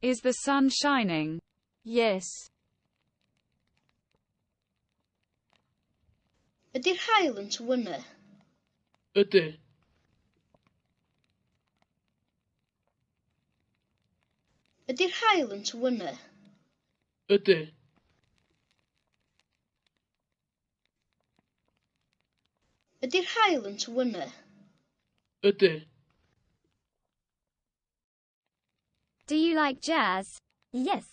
Is the sun shining? Yes. Ydy'r haul yn tywynnu? Ydy. Ydy'r haul yn tywynnu? Ydy. Ydy'r haul yn tywynnu? Ydy. Do you like jazz? Yes.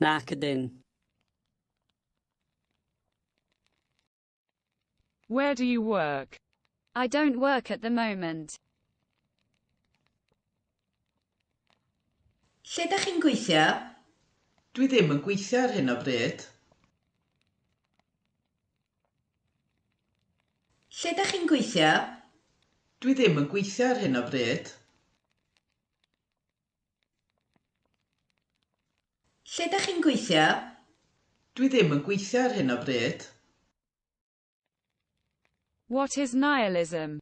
Nac ydyn. Where do you work? I don't work at the moment. Lle dach chi'n gweithio? Dwi ddim yn gweithio ar hyn o bryd. Lle dach chi'n gweithio? Dwi ddim yn gweithio ar hyn o bryd. Lle dach chi'n gweithio? Dwi ddim yn gweithio ar hyn o bryd. What is nihilism?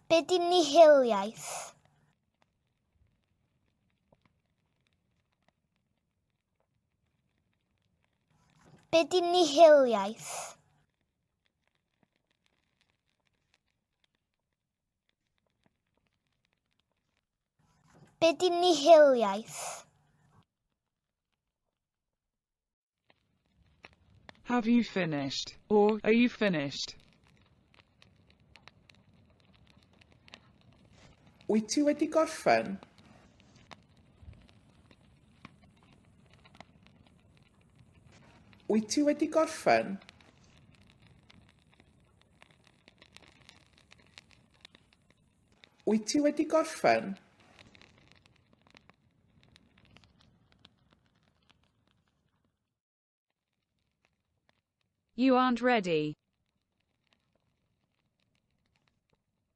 Be di nihiliaeth? Be di nihiliaeth? Be' 'di nihiliaeth? Have you finished? Or, are you finished? Wyt ti wedi gorffen? Wyt ti wedi gorffen? Wyt ti wedi gorffen? You aren't ready.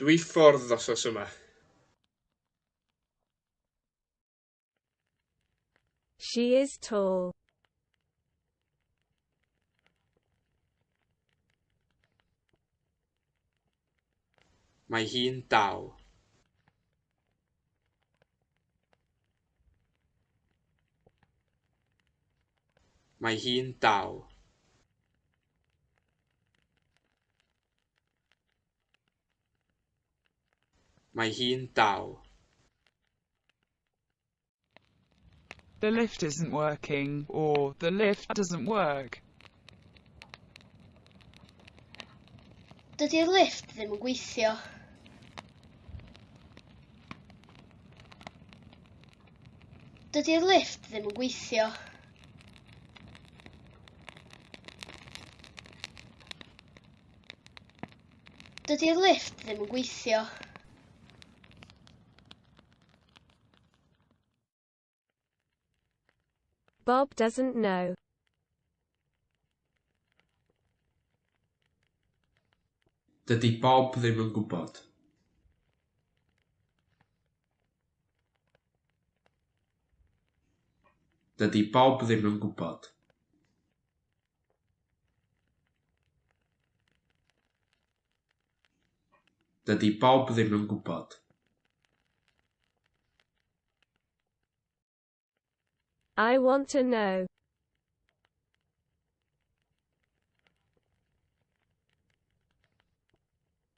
Dwi ffordd wsos yma. She is tall. Mae hi'n dal. Mae hi'n dal. Mae hi'n dal. The lift isn't working or The lift doesn't work. Dydy'r lift ddim yn gweithio. Dydy'r lift ddim yn gweithio. Dydy'r lift ddim yn gweithio. Bob doesn't know. Dydy Bob ddim yn gwybod. Dydy Bob ddim yn gwybod. Dydy Bob ddim yn gwybod. I want to know.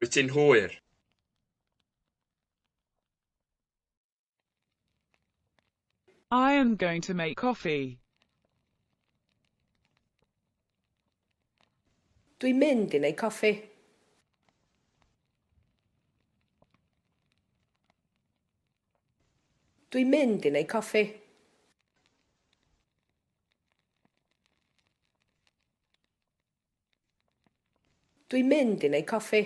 Wyt ti'n hwyr? I am going to make coffee. Dwi'n mynd i wneud coffi. Dwi'n mynd i wneud coffi. Dwi'n mynd i wneud coffi.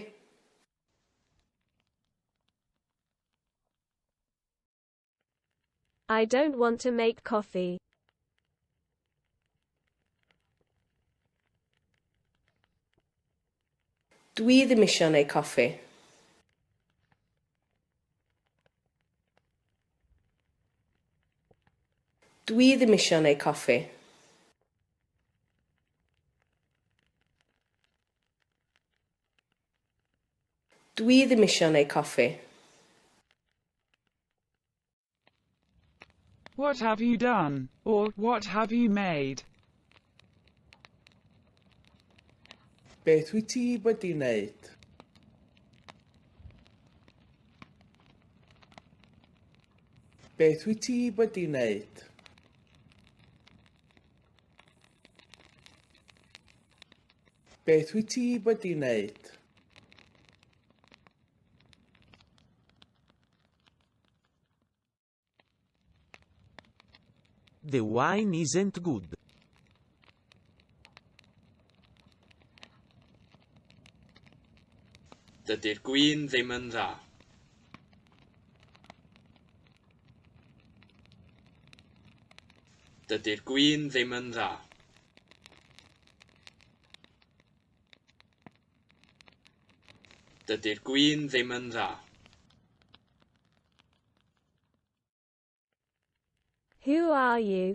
I don't want to make coffee. Dwi ddim eisiau wneud coffi. Dwi ddim eisiau wneud coffi. Dw i ddim isio neu coffi. What have you done? or What have you made? Beth wyt ti wedi wneud? Beth wyt ti wedi wneud? Beth wyt ti wedi wneud? The wine isn't good. Dydy'r gwin ddim yn dda. Dydy'r gwin ddim yn dda. Dydy'r gwin ddim yn dda. Who are you?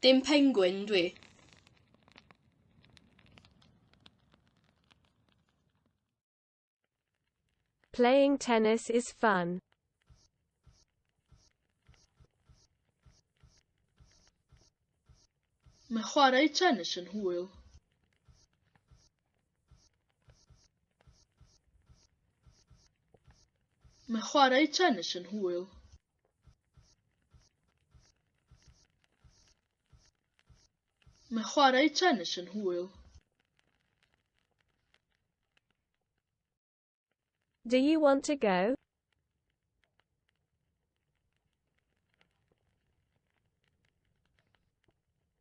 Dim pengwin dwi. Playing tennis is fun. Mae chwarae tennis yn hwyl. Mae chwarae tennis yn hwyl. Mae chwarae tennis yn hwyl. Do you want to go?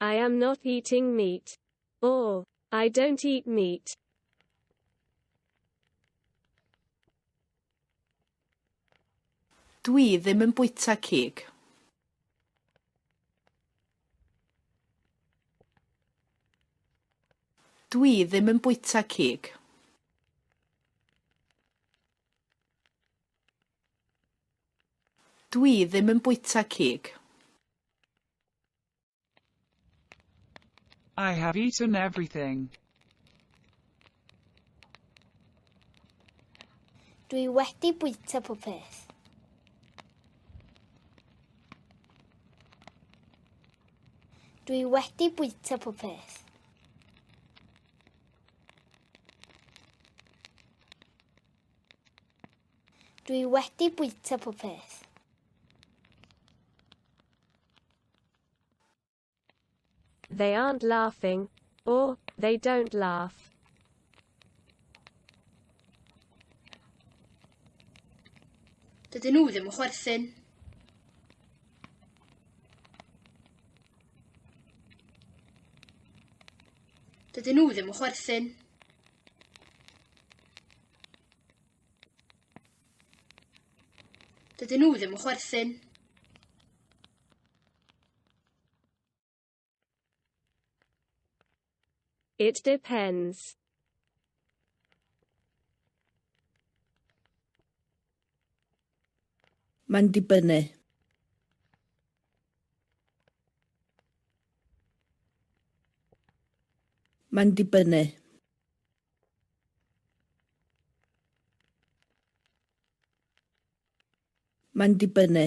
I am not eating meat. Or, I don't eat meat. Dwi ddim yn bwyta cig. Dwi ddim yn bwyta cig. Dwi ddim yn bwyta cig. I have eaten everything. Dwi wedi bwyta pob peth. Dwi wedi bwyta pob peth. Dwi wedi bwyta popeth. They aren't laughing, or they don't laugh. Dydyn nhw ddim yn chwerthin. Dydyn nhw ddim yn chwerthin. Dydyn nhw ddim yn chwerthin. It depends. Mae'n dibynnu. Mae'n dibynnu. Mae'n dibynnu.